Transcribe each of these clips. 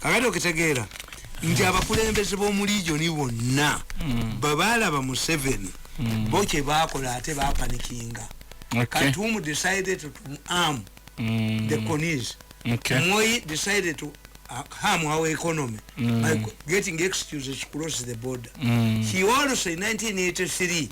kakati okitegeera nti abakulembeze b'omu ligioni bonna mm. babaalaba museveni mm. bo kye baakola ate baapanikinga katumu decided to arm mm. the conis moyi decided to uh, harm our economy by getting excuses to cross the border he also in 1983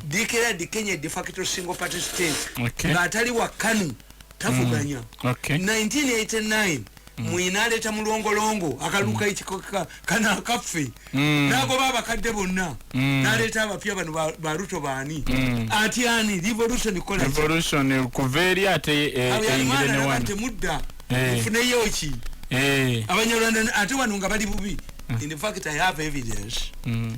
declared kenya de facto single party state ng'atali wa kanu tafuganya 1989 mwina aleeta mulongolongo akaluka mm. ekikoka kana akaffe mm. nagoba abakadde bonna mm. naleeta abapya bano ba ruto baani mm. ati ani revolution kola revolution kuva eri ate eyingire eh, newani temudda eh. funeyo ki eh. abanyarwanda ate wano nga bali bubi mm. in fact i have evidence mm.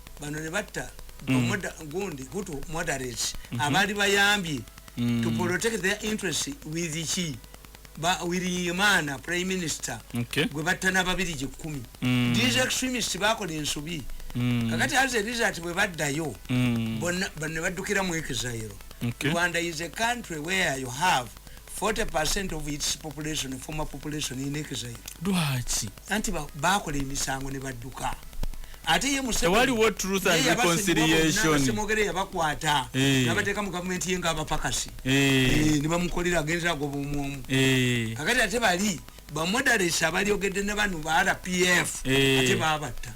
bano ne batta mm. gundi hutu moderate mm -hmm. abali bayambye mm. to protect their interest with ki ba wirimana prime minister okay. gwe batta n'ababiri gyekumi mm. these extremist bakola ensobi mm. kakati as a result bwe baddayo mm. bonna bano ne baddukira mu exile okay. rwanda is a country where you have 40 percent of its population former population in exile lwaki anti bakola emisango nebadduka ate ye musewaliwo truth and reconciliation semogere yabakwata eh. nabateeka mu gavumenti ye ngaabapakasi eh. eh, nebamukolera agendera agoba omwomu kakati ate bali bamoderesi abalyogedde ne bano ba rpf ate babatta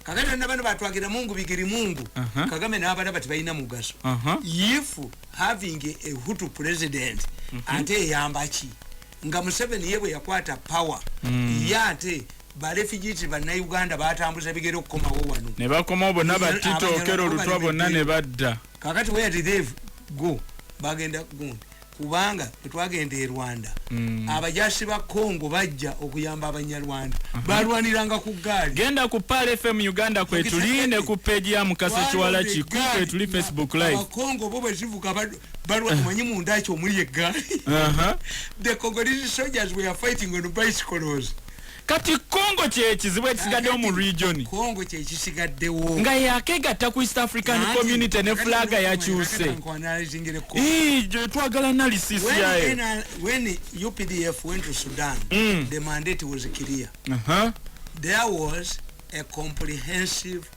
kakati na bano batwagira mungu bigiri mungu uh-huh. kagame nabalaba tibalina mugaso uh-huh. if having a hutu president uh-huh. ate eyambaki nga museveni ye bwe yakwata power mm. ye ate balefugiti bannayuganda batambuza bigere okukomawo wano ne bakomawo bonna batitookera olutwa bonna ne badda kakati where did they go bagenda gundi kubanga bwetwagenda e rwanda mm. abajasi ba congo bajja okuyamba abanyarwanda uh -huh. balwaniranga ku gaali genda ku pal fm uganda kwetuli ne ku peji ya mukasa kiwala kiku kwetuli facebook live abakongo bo bwezivuga balwa eh. omanyi munda ki omuli eggaali the congolese soldiers were fighting on bicycles kati congo kyekizibu ekisigaddewo mu region congo kyekisigaddewo nga yakegatta ku east african community ne flaga yakyuse twagala nalisisiyae when updf went to sudan mm. the mandate was clear uh -huh. there was a comprehensive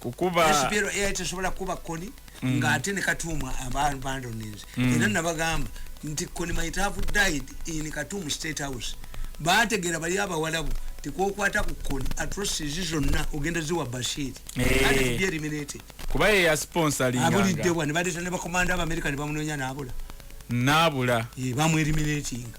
kukuba SPL AI tesobola kukuba koni mm. nga ate ne katuuma abantu bandoninze mm. era nabagamba nti koni might have died in katumu state house baategeera bali abawalabu tikwokwata ku koni atrocities zonna ogenda ziwa bashir eh. ate tubye eliminate kuba ye ya sponsor linga abulidde wa ne baleeta ne bakomanda abamerika ne bamunoonya naabula naabula ye bamu eliminatinga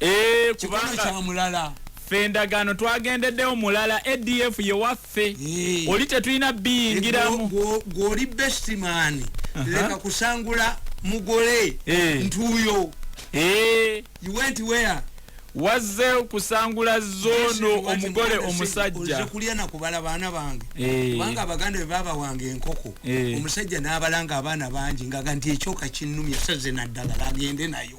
Eh, kikono kya mulala ffe endagaano twagendeddewo mulala adf ye waffe eh. oli tetulina biyingiramu gwoli bestimani leka kusangula mugole eh. ntuuyo eh. wazze kusangula zono omugole omusajja kulya nakubala baana bange kubanga abaganda be baba wange enkoko omusajja n'abalanga abaana bangi ngaga nti ekyoka kinnumya saze naddagala agende nayo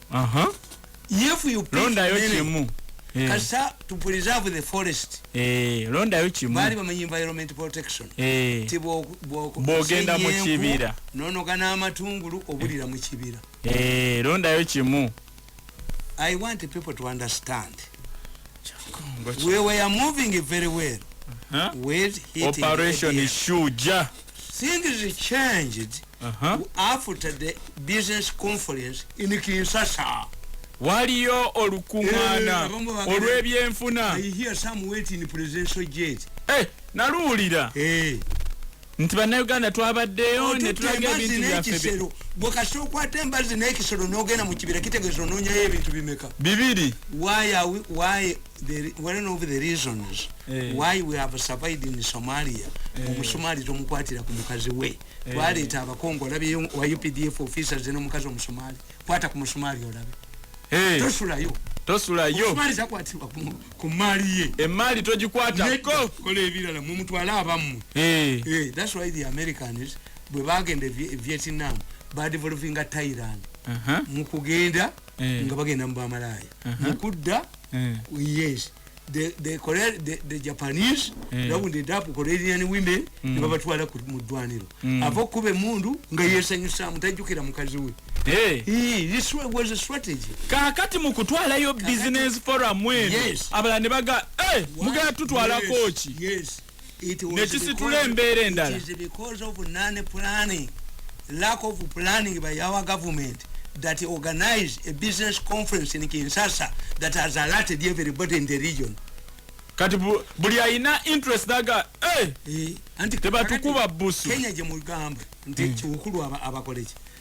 aha if you pick londa yo kimu eh. kasa to preserve the forest eh londa yo kimu bali bamanyi environment protection eh tibo boko bogenda mu kibira nono kana amatungulu obulira mu kibira eh londa yo kimu i want people to understand we were moving very well huh? with operation shuja things changed uh -huh. after the business conference in Kinshasa waliyo olukuŋŋaana eh, olw'ebyenfuna eh, naluwulira eh. nti bannayuganda twabaddeyo netulaga ebintu byaffe bwekasita okwata embazi n'ekisolo n'ogenda mu kibira kitegeeza onoonyayo ebintu bimeka bibiri why we have survived in somalia omusomaali tomukwatira ku mukazi we eh. twaleeta abakongo olabyeyo wa updf officers n'omukazi omusomali kwata ku musomali olabe eh. tosulayo tosulayo zakwatibwa ku maali ye emaali togikwatako kola ebirala mumutwale abammwe eh. thats why the americans bwe bagenda e, e vietnam badevolvinga tairan uh-huh. mukugenda nga bagenda mu bamalaaya mukudda yes the, the, Korea, the, the Japanese mm. that would end up Korean women mm. ne babatwala ku mudwaniro mm. ava okuba emundu nga yesanyusa mutajukira mukazi we Hey. He, this was a strategy. Kakati mukutwala yo business forum mwenu. Yes. Abala nebaga, eh, hey, mugaya tutwala yes. kochi. Yes. nekisitula embeera endala lack of planning by our government that organize a business conference in Kinshasa that has alerted everybody in the region. Kati buli ayina interest daga eh, eh tebatukuba busu Kenya gye mugamba nti mm. kikulu abakoleki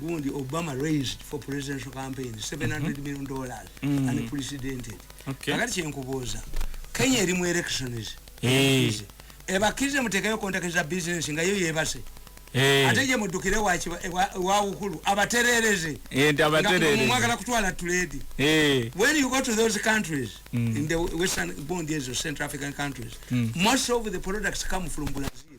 gundi obama raised for presidential campaign 700 mm -hmm. million dollars mm -hmm. and precedented okay. akati kyenkubuuza kenya eri mu elections hey. ebakirize mutekeyo kontake za business nga yo yebase hey. ate je mudukire wawukulu wa abaterereze mwagala kutwala tuledi hey. when you go to those countries mm. in the western bond years of central african countries mm. most of the products come from brazil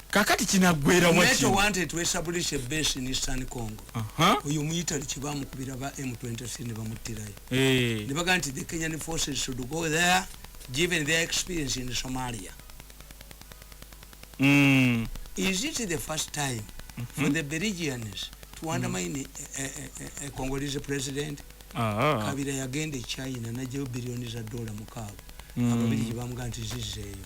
kakati kinaggwera waki wante twesabulishe base in eastern congo oyo muyitali kibamukubira ba m23 ne bamuttirayo eh. ne baga nti the kenyan forces should go there given their experience in somalia mm. is it the first time mm -hmm. for the belgians to undermine mm. a, a, a, a congolese president ah. kabira yagenda e china najeyo billioni za dola mukaaga mm. ababirigi bamuga nti zizeeyo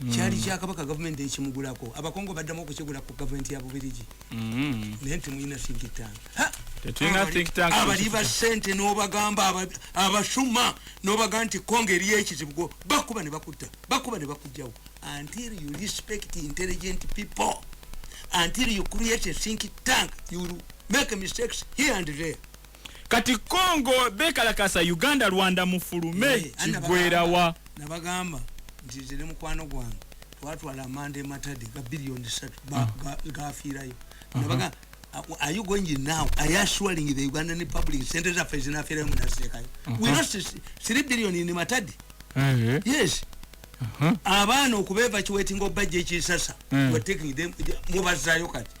mm. kyali kya kabaka gavumenti ekimugulako abakongo baddamu okukigula ku gavumenti ya bubirigi mm. naye ntimulina sinkitangabali ba sente nobagamba abasuma nobaga nti kongo eriyo ekizibugo bakuba ne bakutta bakuba ne bakujjawo until you respect intelligent people until you create a think tank you make mistakes here and there kati congo bekalakasa uganda rwanda mufulume eh, kigwerawa nabagamba nti nze ne mukwano gwange twatwala amanda ematade ga biliyoni satu ah. gafiirayo uh-huh. nabaga uh, are you going in now are you assuring the ugandan republic sente zaffe zinafiirayo munasekayo uh-huh. we lost three billion in matade eh. yes uh-huh. abaana okubeeva kiwetinga obajja ekisasa eh. mubazayo kati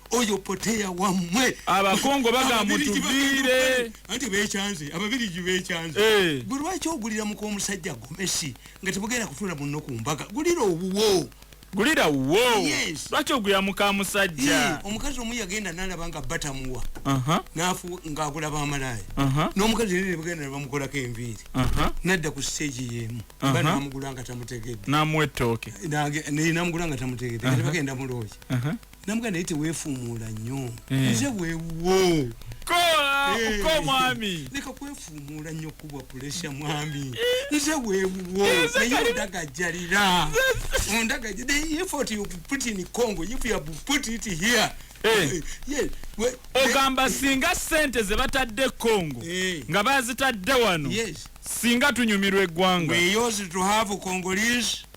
oyo poteya wamwe abakongo bagamba tuviire anti bekyanze ababirigi bekyanze eh. gwe lwaki ogulira muka omusajja gomesi nga tebugenda kufuna munno ku mbaga gulira obuwo gulira wo lwaki ogulira muka musajja eh, omukazi omu yagenda nalaba nga batamuwa nafu ngaagula bamalaaya n'omukazi era nebagenda nebamukolako enviiri nadda ku siteegi yemu ba namugula nga tamutegedde namuwa ettooke namugula nga tamutegedde nebagenda mulooki namuga naye tewefuumuula nnyo eh. nze wewuwo komwami leka eh. kwefuumuula nnyo kubwa pulesha mwami eh. nze wewuwo naye ondagajjalira ondagaja the effort you put in congo if you have put it here ogamba singa sente zebatadde congo nga bazitadde wano singa tunyumirwa eggwanga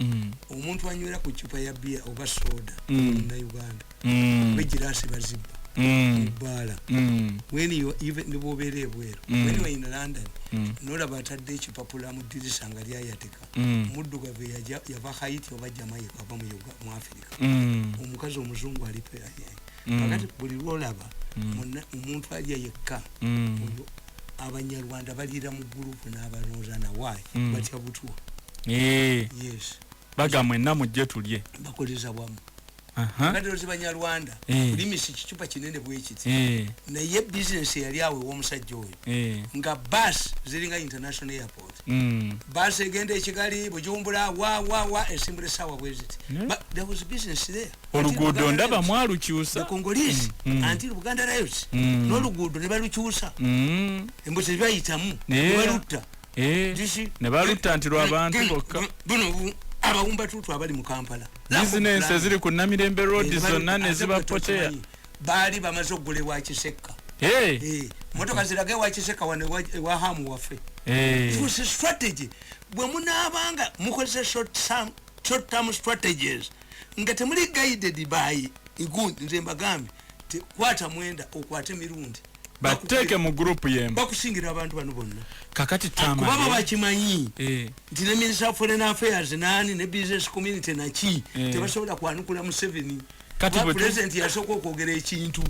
mm. omuntu anywera ku cupa ya bia oba soda mm. na uganda mm. bejirasi baziba mm. bala mm. when you even the bobere bwero mm. when you are in london mm. nora batadde ekipapula mu dirisa nga lya yateka mm. muddu gave ya ya bahayiti oba jamaika oba mu yuga mu afrika mm. omukazi omuzungu alipe ya mm. kakati buli lwolaba mm. omuntu alya yekka mm. oyo abanyarwanda baliira mu gurupu n'abalonza nawayi batya butwa eh. yes baga mwenna mujje tulye bakoleza wamu badirozi banyarwanda eh. kulimisa ekicupa kinene bwekiti eh. naye bizinesi yali awo ewomusajja oyo eh. nga bas ziringa international airport mm. bas egenda ekigali bujumbura wawawa esimbula esaawa bweziti but there was business there oluguudo ndaba mwalukyusa mm, mm. noluguudo nebalukyusa mm. embuzi bayitamu nebalutta eh, nebalutta nti lwabantu bokka abawumba tutu abali mu kampala bizinensi eziri ku namirembe road eh, zonna nezibapoteya baali bamaze okugula ewa kisekka eh. eh, motoka ziraga ewa kisekka wano ewa hamu waffe strategy bwe munaabanga mukozesa short term strategies nga temuli guided by igun nze mbagambe tekwata mwenda okwate mirundi bateeke mu group yemu bakusingira abantu bano bonna kakati tama kuba baba eh? kimanyi eh nti ne minister of foreign affairs nani ne business community na chi eh. tebasobola kwanukula mu seven kati bwe president yasoko kwogera ekintu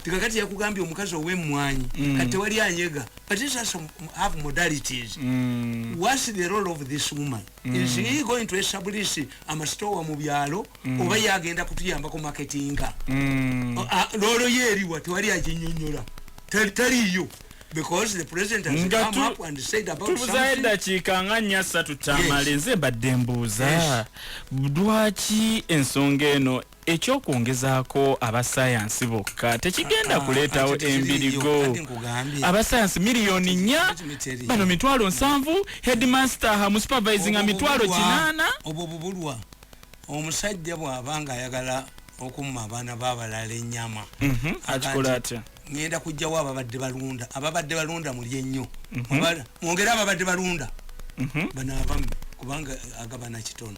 tikakati yakugambye omukazi owemwanyi mm. kati wali anyega but this has some have modalities mm. what's the role of this woman mm. is he going to establish amasitowa mu byalo mm. oba ye agenda kutuyambako marketinga mm. loolo ye eriwa tewali aginyonyola taliyo tubuzayo eddakiika nga nnya ssatu tamale nze mbadde mbuuza lwaki ensonga eno ekyokwongezaako abasayansi bokka tekigenda ah, kuleetawo ah, embirigo abasayansi miliyoni nnya bano mitwalo nsanvu headmaster hamu supervising a mitwalo kinaana obwo bubulwa omusajja bw'aba ng'ayagala okumma abaana b'abalala ennyama mhm, akikola atya ŋŋenda kujjawo ababadde balunda ababadde balunda muli ennyo mhm. mwongere ababadde balunda mhm. bano abamu kubanga agabana kitono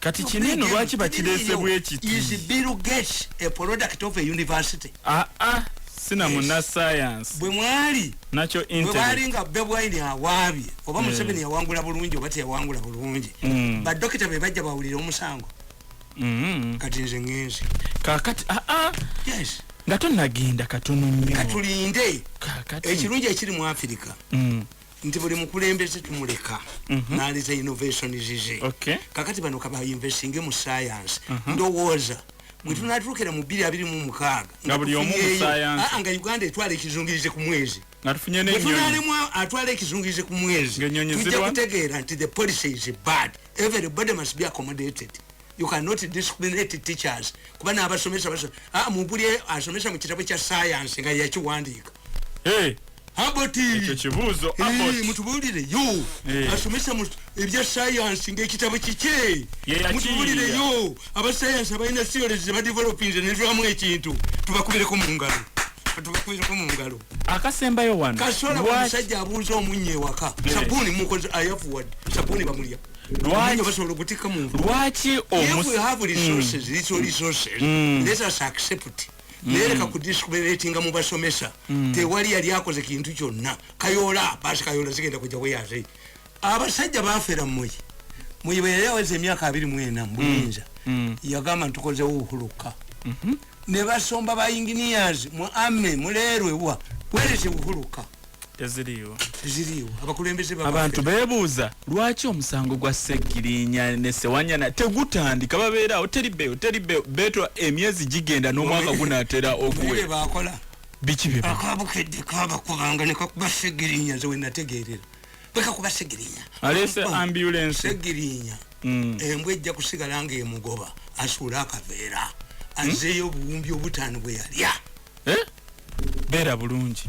kati kino eno lwaki bakireese bwekitibirugates a product of a university aa ah, ah, sina muna science bwe mwali nakyo bwebali nga bebwaini awaabye oba eh. museveni yawangula bulungi oba teyawangula bulungi mm. badokita be bajja bawulira omusango mm-hmm. kati nze ngenzi kakati aa ah, yes nga tonagenda katono nyo katulinde ekirungi ekiri mu afirika mm. nti buli mukulembeze tumuleka mhm. naliza innovation zize kakati bano kaba investinge mu science mhm. ndowooza bwetunatuukira mu bbiri abiri mu mukaaga ah, nga uganda etwala ekizungirize ku mwezi bwetunalemwa atwala ekizungirize ku mwezi tujja kutegeera nti the policy is bad everybody must be accommodated you cannot discriminate teachers kuba n'abasomesa basomesa ah, muguli asomesa mu kitabo kya science nga yakiwandiika hey. mutubulire yo asomesa ebya sayansi ngaekitabo kikye mutubulire yo abasayansi abalina theories zebadevelopinze nevamu ekintu tubakubireko mu ngalo tubakubireko mu ngalo akasembayo wano kasola omusajja abuuza omunya ewaka sabuuni mukozi ayafuwad sabuuni bamulya lwaki basobola okutikka mu nvu lwaki omus if we have resources mm. little resources mm. let us accept mm. nereka ku discriminatinga mu basomesa mm. tewali yali akoze kintu kyonna kayola paasi kayola zigenda kujja weyaze abasajja bafera mmuyi muyi bwe yali aweza emyaka abiri mwena mu buyinza mm. mm. yagamba ntukozewo uhuluka mm -hmm. ne basomba ba engineers mu ame mulerwe wa where is uhuluka teziriiwo teziriiwo abakulembeze abantu beebuuza lwaki omusango gwa ssegirinya ne sewanyana tegutandika babeerawo teri beeyo teri beeyo beetwa emyezi gigenda n'omwaka gunaatera okuwe bakola biki bye akabukedde kabakubanga ne kakuba ssegirinya nze wenategeerera bwe kakuba ssegirinya aleese ambulensi ssegirinya mm. embwa ejja kusigala ng'emugoba asuula akaveera hmm? azeeyo obuwumbi obutaano bwe yalya eh? beera bulungi